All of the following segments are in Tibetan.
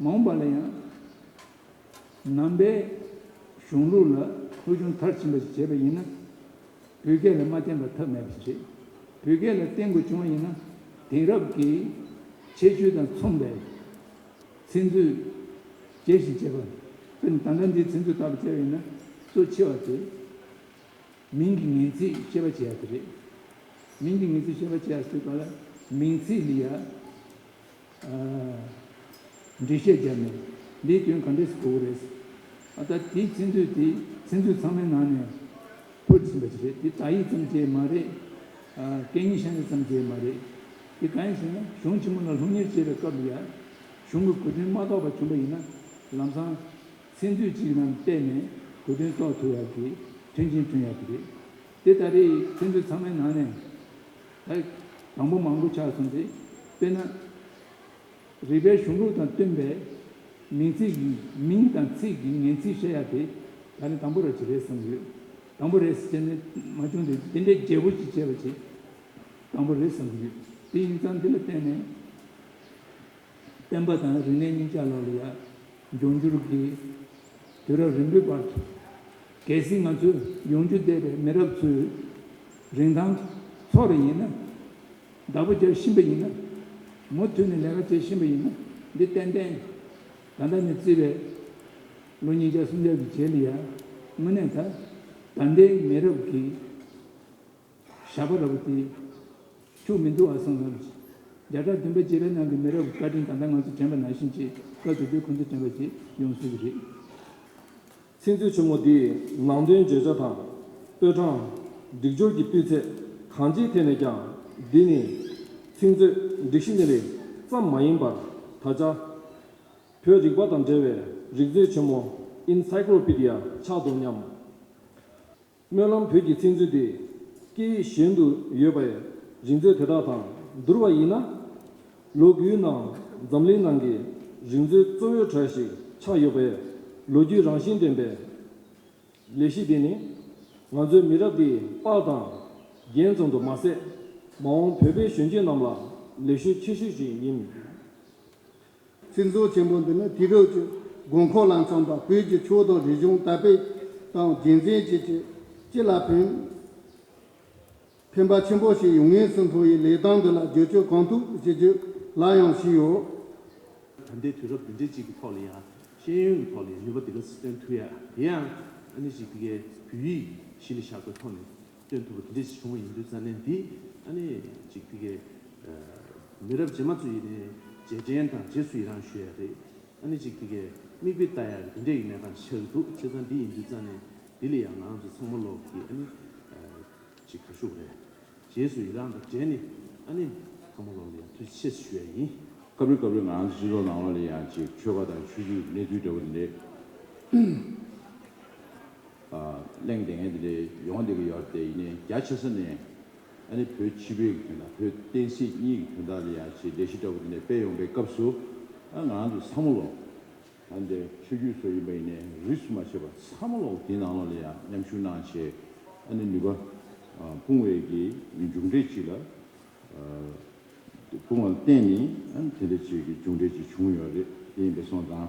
མ་འོངས་པ་ལ་ཡང་ནང་པའི་གཞུང་ལུགས་ལ་ཕུལ་བྱུང་མཐར་ཕྱིན་པ་ཞིག་བྱེད་པ་ཡིན་ན། བོད་སྐད་ལ་མ་བརྟེན་པར་ཐབས་མེད་པར་བྱེད། བོད་སྐད་ལ་བརྟེན་དགོས་བྱུང་བ་ཡིན་ན། དེང་རབས་ཀྱི་ཁྱད་ཆོས་དང་མཚུངས་པའི་ཚིག་མཛོད་རྒྱས་ཤིང་བྱེད་པ། དཔེར་ན་དང་བྲག་འདིའི་ཚིག་མཛོད་ལྟ་བུ་བཙལ་བ་ཡིན་ན་གཙོ་ཆེ་བ་དེ་མིང་གི་ངེས་ཚིག་ཤེས་པ་བྱེད་ཡག་གི་རེད། མིང་གི་ངེས་ཚིག་ཤེས་པ་བྱེད་ཡག་ཟེར་བ་ལ་མིང་ཚིག་འདི་ཡག་འགྲེལ་བཤད་བརྒྱབ་ནས་འདིའི་སྐྱོན་ག་འདྲས་གོ་གི་རེད། ད་ལྟ་དེའི་ཚིག་མཛོད་དེ་ཚིག་མཛོད་ཚང་མའི་ནང་ནས་ཕུད་ཟིན་པ་ཞིག་རེད་དེ་དག་ཡིག་ཙམ་བཅས་མ་རེད། སྐད་གཉིས་ཤ་ཡིག་ཙམ་བཅས་མ་རེད། དེ་གང་ཡིན་ཟེར་ན་གཞུང་ཆེན་མོ་ལ་ལྷུག་གཉེར་བྱེད་པའི་སྐབས་ལ་ཡག། གཞུང་གི་གོ་དོན་མ་རྟོགས་པ་བྱུང་བ་ཡིན་ན་ལམ་སང་ཚིག་མཛོད་ཅིག་ནང་བལྟས་ནས་གོ་དོན་རྟོགས་ཐུབ་ཡག་གི་མཐུན་ཅན་མཐུན་ཡག་གི་རེད། དེ་ལྟ་རེད་ཚིག་མཛོད་ཚང་མའི་ནང་ནས་ད་དང་པོ་མང་པོ་ཆགས་སོང་དེ་དཔེར་ན། རིག་པའི་གཞུང་ལུགས་དང་བསྟུན་པའི་མིང་ཚིག་གི་མིང་དང་ཚིག་གི་ངེས་ཚིག་བཤད་ཡག་དེ་ད་ནི་དང་པོ་ར་ཅིག་རེད་བསམ་གྱི་ཡོད། དང་པོ་རེད་ཟེར་ནས་མ་བྱུང་དུས་དེ་འདྲའི་རྒྱས་པོ་ཅིག་བྱས་པ་ཅིག་དང་པོ་རེད་བསམ་གྱི་ཡོད་དེ་ཡིན་ཙང་འདི་ལ་བརྟེན་ནས། བསྟན་པ་དང་རིག་གནས་གཉིས་ཆ་ལག་ལ་ཡར་འགྱངས་རྒྱུར་གྱི་དུས་རབས་རིང་པོའི་བར་དུ། གལ་སྲིད་ང་ཚོས་ཡོང་རྒྱུ་བསྡད་པའི་མི་རབས་ཚོའི་རིན་ཐང་ཐོག་རེ་ཡིན་ན། བདག་པོ་རྒྱག་བཞིན་པ་ཡིན་ན། མུ་མཐུད་ནས་ལས་ཀ་བྱེད་བཞིན་པ་ཡིན་ན་འདི་ཏན་ཏན་ད་ལྟ་ནས་བརྩིས་པའི་ལོ་ཉིས་བརྒྱ་སུམ་བརྒྱ་གི་རྗེས་ལ་ཡར་མུ་ནས་ད་ལྟའི་མི་རབས་ཀྱིས་ཞགས་པ་ར་བུ་དེས། ཁྱོད་མི་འདུག་ཨ་སང་ལགས། བརྒྱ་ཕྲག་བདུན་པ་སྤྱི་བའི་ནང་གི་མི་རབས་བཀའ་དྲིན་ད་ལྟ་ང་ཚོ་དྲན་པ་ནང་བཞིན་གྱི་སྐབས་དེ་དུས་ཁོང་ཚོ་དྲན་པ་བྱེད་ཡོང་བཟོས་ཀྱི་རེད། ཚིག་མཛོད་ཆེན་མོ་འདིས་ནང་དོན་བརྗོད་བྱ་དང། སྤོས་གྲངས། སྒྲིག་སྦྱོར་གྱི་སྤུས་ཚད་གང་ཅིའི་ཐད་ནས་ཀྱང་འདི་ནི། ཚིག་མཛོད་སྒྲིག་གཞི་ནི་རིགས་ཙམ་མ་ཡིན་པར་ད་ཆ། བོད་རིག་པ་དང་འབྲེལ་བའི་རིག་མཛོད་ཆེན་མོ Encyclopedia ཆགས་འདུག་སྙམ། སྨོན་ལམ་བོད་ཀྱི་ཚིག་མཛོད་དེ་སྐད་ཡིག་གཞན་དུ་ཡོད་པའི་རིག་མཛོད་དེ་དག་དང་བསྡུར་བ་ཡིན་ན། ལོ་དགུའི་ནང་འཛམ་གླིང་ནང་གི་རིག་མཛོད་གཙོ་བོའི་གྲས་ཤིག་ཆགས་ཡོད་པས་ལོ་རྒྱུས་རང་བཞིན་ལྡན་པའི་ལས་གཞི་འདི་ནི། ང་ཚོའི་མི་རབས་འདིའི་པགས་དང་རྒྱན་ཙམ་དུ་མ་ཟད། མ་འོངས་བོད་པའི་གཞོན་སྐྱེས་རྣམས་ལ་ལས་ཞུགས་ཆེ་ཤོས་ཤིག་ཡིན། ཚིག་མཛོད་ཆེན་པོ་འདི་ནི་དུས་རབས་ཀྱི་དགོས་མཁོ་ལ་འཚམ་པར་བོད་ཀྱི་ཆོས་དང་རིག་གཞུང་དར་སྤེལ་དང་རྒྱུན་འཛིན་བྱེད་ཆེད་སྤྱི་ལ་ཕན་ཕན་པ་ཆེན་པོ་ཞིག་ཡོང་ངེས་སུ་མཐོང་བས་ལས་སྟངས་འདི་ལ་བསྒྱུར་བཅོས་གང་ཐུབ་བྱེད་རྒྱུ་སླར་ཡང་ཞུས་ཡོད། ད་ལྟའི་དུས་རབས་བདུན་ཚན་གཅིག་གི་ཐོག་ལ་ཡང་ཤེས་ཡོན་གྱི་ཐོག་ལ་ཡང་ནུས་པ་དེ་འདྲ་སྟོན་ཐུབ་ཡ་དེ་ཡང་ཨ་ནི་ཞིག་དེ་གའི་བོད་ཡིག་གཞི་ལ་བཞག་པའི་ཐོག་ནས་སྟོན་ཐུབ་པ་དེ་འདྲས་ཤིག་བྱུང་བ་ཡིན་དུས་ཙཱ་ནན་འདིས་ཨ་ནེ་ཅིག་ཕི་ཁའི་མི་རབས་རྗེས་མ་ཚོ་ཡིན་ནའི་རྗེས་དྲན་དང་རྗེས་སུ་ཡི་རངས་ཞུ་ཡ་རེད། ཨ་ནེ་ཅིག་ཕི་ཁའི་མིག་དཔེ་ལྟ་ཡག་གི་དེ་འདྲས་ཡི་མེད་གང་ཤར་གི་འདུག་ཚེ་ཙཱ་འདི་ཡིན་དུས་ཙཱ་ནན་འདི་ལས་ཡག་ངང་ཚོ་ཚང་མ་ལོག་གི་ཨ་ནེ་ཅིག་ཁ་ཤུག་རེད། རྗེས་སུ་ཡི་རངས་དང་འབྲེལ་ནི་ཨ་ནེ་ཚང་མ་ལོག་ལ་ཡག་དུས་ཆེད་ཞུ་ཡ་ཡིན། སྐབས་རེ་སྐབས་རེ་ངང་ཚོ་སྤྱི་ཚོགས་ནང་ལོག་ལ་ཡག་ཅིག་ཆོས་པ་དང་ཆོས་བརྒྱུད་གནས་དུས་འདྲ་བོ་དེ་འདྲས། གླེང་དེ་ངས་འདི་འདྲའི་ཡོང་བ་འདི་གི་ཡོད་དེ་ཡིན་ནས་རྒྱ་ཆེ་ས་ནས་ཨ་ནི་བོད་སྤྱི་པའི་གི་དོན་དང་བོད་བསྟན་སྲིད་གཉིས་གི་དོན་དག་ལ་ཡང་ཆེས་ལས་གཞི་འདྲ་པོ་འདི་འདྲ་སྤེལ་ཡོང་པའི་སྐབས་སུ་ཨ་ང་རང་ཚོ་ཚ་མོ་ལོག་ད་འདི་འདྲའི་ཆོས་བརྒྱུད་སོགས་ཡིན་པ་ཡིན་ནས་རིས་སུ་མ་ཆད་པ་ཚ་མོ་ལོག་དེའི་ནང་ལོག་ལ་ཡང་མཉམ་ཞུགས་གནང་བྱས་ཨ་ནི་ནུས་པ་སྤུངས་བའི་གི་མཇུག་འབྲས་ཅིག་ལ་སྤུངས་བ་ལ་བརྟེན་ནས་ཨ་ནི་དེ་འདྲ་ཅིག་གི་མཇུག་འབྲས་ཅིག་བྱུང་ཡོད་རེད་དེ་ཡིན་པས་སོང་དང།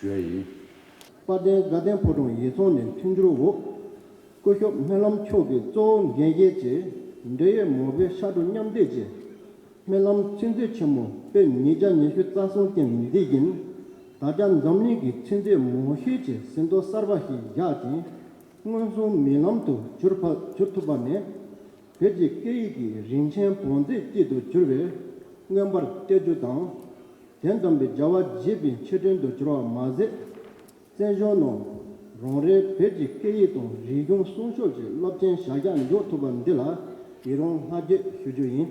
ཞོལ་ཡིན། དཔལ་ལྡན་དགའ་ལྡན་ཕོ་བྲང་ཡིད་ཚོང་ནས་མཐུན་འགྱུར་འོག་སྐུ་ཞོབ་སྨོན་ལམ་མཆོག་གི་གཙོ་བོ་འགན་བཞེས་ཀྱིས་འབྲེལ་ཡོད་མང་བོའི་ཕྱག་གྲུ་མཉམ་འདེགས་ཀྱིས་སྨོན་ལམ་ཚིག་མཛོད་ཆེན་མོ་པོད་ཉིས་བརྒྱ་ཉི་ཤུ་རྩ་གསུམ་སྟེང་མི་སྡེ་བཞིན་ད་ཆ་འཛམ་གླིང་གི་ཚིག་མཛོད་མང་ཤོས་ཀྱི་ཟིན་ཐོ་གསར་པ་ཞིག་བཞག་ཅིང་མངོན་སུམ་མིག་ལམ་དུ་གྱུར་ཐུབ་པ་ནི། བོད་ཀྱི་སྐད་ཡིག་གི་རིན་ཆེན་བོངས་རྫས་སྐྱིད་དུ་གྱུར་བས་མངོན་པར་བསྟད་རྒྱུ་དང། དོན་དམ་པའི་བྱ་བ་བགྱིས་པའི་ཕྱིར་དྲན་དུ་གྱུར་བ་མ་ཟད། བཙན་གཞོན་ནོ། རང་རེའི་བོད་ཀྱི་སྐད་ཡིག་དང་རིག་གཞུང་སྲུང་ཤོག་ཀྱི་སློབ་ཆེན་བྱ་གཞག་མགྱོགས་ཐུབ་པ་འདི་ལ་ཡི་རང་བསྔགས་བརྗོད་ཞུ་རྒྱུ་ཡིན།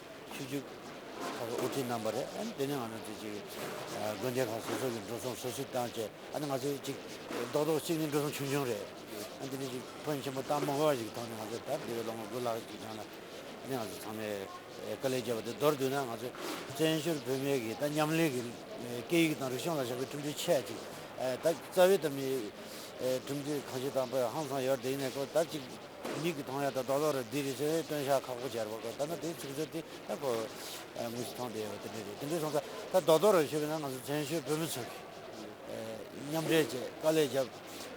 ཆུ་རྒྱུག་ཁག་གི་དབུ་ཁྲིད་རྣམ་པ་རེད། དེ་ནས་ང་ཚོ་དེ་གཅིག་དགོན་སྡེ་ཁག་སོ་སོ་གི་འགྲོ་སོང་སོ་སོས་བཏང་བཅས་ཨ་ནི་ང་ཚོ་གཅིག་རྡོག་རྡོག་གཅིག་ནི་འགྲོ་སོང་ཆུང་ཆུང་རེད། དེ་ནས་གཅིག་བོན་ཆེན་པོ་སྟག་མོ་འགར་བ་ཞིག་གི་ཐོག་ནས་ང་ཚོ་ད་འདི་བའི་ལོ་ངོ་དགུ་ལྷག་གི་སྒང་ལ་ཨ་ནི་ང་ཚོ་ཚང་མས་དཀའ་ལས་བརྒྱབ་པ་དེ་མདོར་བསྡུས་ན་ང་ཚོ་བཙན་བྱོལ་བོད་མི་གིས་ད་མཉམ་ལས་ཀྱི་སྐད་ཡིག་དང་རིག་གཞུང་ལ་བཞག་པའི་ཁྲིམས་མཐུན་ཆད་ཅིག་ད་རྩ་བའི་ད་མི་ཁྲིམས་མཐུན་གང་ཆེ་དང་པོ་ཧང་སང་ཡོད་རེད་དེ་ཡིན་ན་ད་གཅིག་མིག་གིས་མཐོང་ཡ་དང་རྡོག་རྡོག་རེད་འདི་རེད་ཅེས་སྟོན་ཤ་ཁག་པོ་སྦྱར་བ་དགོས་ད་ནི་དེའི་ཚིག་མཛོད་དེ་ད་ཁོ་བོས་མིག་གིས་མཐོང་བསྡད་ཡོད་པ་དེ་འདྲས་རེད་དེ་འདྲས་སོང་ཙང་ད་རྡོག་རྡོག་རེད་ཞུས་པས་ན་ང་ཚོ་བཙན་བྱོལ་བོད་མི་ཚོས་མཉམ་འབྲེལ་བཅས་དཀའ་ལས་བརྒྱབ་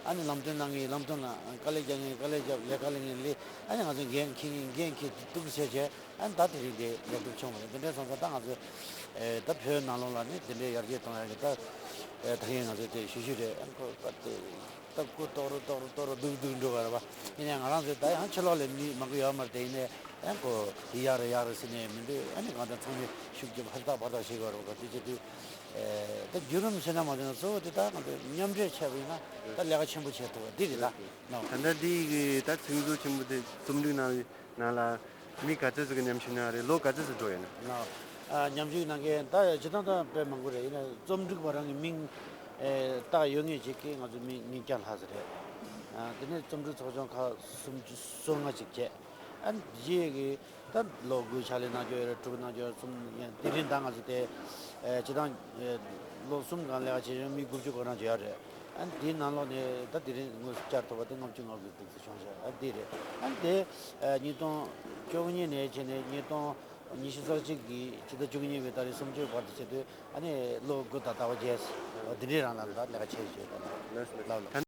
ཨ་ནི་ལམ་སྟོན་གནང་མཁན་ཡིན་ལམ་སྟོན་ལ་དཀའ་ལས་རྒྱག་མཁན་ཡིན་དཀའ་ལས་བརྒྱབ་ལས་དཀའ་ལས་ངན་ལས་ཨ་ནི་ང་ཚོས་འགན་འཁྱེར་མཁན་འགན་འཁྱེར་ཏུ་གཏུགས་ཀྱི་བྱས་བྱས་ཨ་ནི་ད་དེ་རིང་དེ་ལེགས་གྲུབ་བྱུང་བ་རེད་དེ་འདྲས་སོང་ཙང་ད་ང་ཚོས་ད་བོད་ནང་ལུང་ལ་ནི་དེ་འདྲས་ཡར་རྒྱས་གཏོང་ཡ་གི་ད་ད་གིན་ང་ཚོས་དེ་ཞུ་རྒྱུ་རེད་ཨ་ནི་ཁོ་བོས་པ་དེ། ལྟ་སྐུ་རྟོགས་རུ་རྟོགས་རུ་རྟོགས་རུ་སྡུག་སྡུག་འགྲོ་གི་རེད་པ། ཡིན་ནའི་ང་རང་ཚོས་ད་ཡང་ཕྱི་ལོག་ལས་མི་མང་པོ་ཡོད་མར་དེ་ཡིན་ནའི་ཨེ་གོ་ཡི་ཡག་རེད་ཡག་རེད་ཟེར་ནའི་མི་འདུག་ཨེ་ནས་གང་ལྟར་ཚང་མས་ཤུགས་རྒྱབ་ཧུར་ཐག་ཧྦར་ཐག་བྱེད་གི་ཡོད་རེད་པ་ག་དུས་བྱེད་དུས། ད་བརྒྱུད་རིམ་ཕྱི་ནང་མ་འདོན་ན་གཙོ་བོ་དེ་ལྟར་ང་ཚོས་མཉམ་འདྲེས་བྱས་པ་ཡིན་ན་ད་ལས་ཀ་ཆེན་པོ་བྱེད་ཐུབ་པ་འདི་རེད་ད། ད་ལྟ་འདི་གི་ད་དུས་འགོ་ཆེན་པོ་དེ་རྩོམ་སྒྲིག་གནང་བའི་ནང་ལ། མི་ག་ཚོད་ཟིག་གི་ཉམས་ཞིབ་གནང་རེད་ལོ་ག་ཚོད་ཟིག་འགྲོ་ཡོད་ན། ཉམས་ཞིབ་གནང་མཁན་ད་ཡ་བྱེད་སྟངས་དང་དཔེ་མང་པོ་རེད་ཡིན་ན་རྩོམ་སྒྲིག་པ་རང་གི་མིང་བཏགས་ཡོད་ངེས་བྱེད་ཀྱི་ང་ཚོ་མི་ཉིས་བརྒྱ་ལྷག་ཟིག་རེད། དེ་ནས་རྩོམ་སྒྲིག་ཚོགས་ཆུང་ཁག་གསུམ་བཅུ་སོ་ལྔ་ཅིག་བཅས་ཨ་རྗེ་ཡེ་གི་ད་ལོ་དགུའི་ཕྱག་ལས་གནང་རྒྱུ་ཡོད་རེད་དྲུག་གི་གནང་རྒྱུ་ཡོད་རེད་གསུམ་དེ་རིང་ད་ང་ཚོ་དེ་བྱེད་སྟངས་ལོ་གསུམ་གང་ལེགས་བྱས་ཡོང་མི་དགུ་བཅུ་གོ་རང་བྱས་ཡོད་རེད་ཨ་དེའི་ནང་ལོགས་ནས་ད་དེ་རིང་དངོས་སུ་བསྐྱར་ཐོབ་པ་དེ་ལྔ་བཅུ་ང་དགུ་བཅུ་ཟིག་བྱུང་ཟེར་ཨ་དེ་རེད་ཨ་དེ། ཉིས་སྟོང་བཅོ་ལྔ་ནས་བྱས་ནས་ཉིས་སྟོང་ཉི་ཤུ་རྩ་གཅིག་གི་ཕྱི་ཟླ་བཅུ་གཉིས་པའི་ཟླ་རེའི་གསུམ་བཅུའི་བར་དུ་བྱེད་དུས་ལོ་དགུ་དང་ཟླ་བ་བརྒྱད་འདི་འདྲའི་རིང་ལ་ལས་ཀ་བྱས་ཡོད།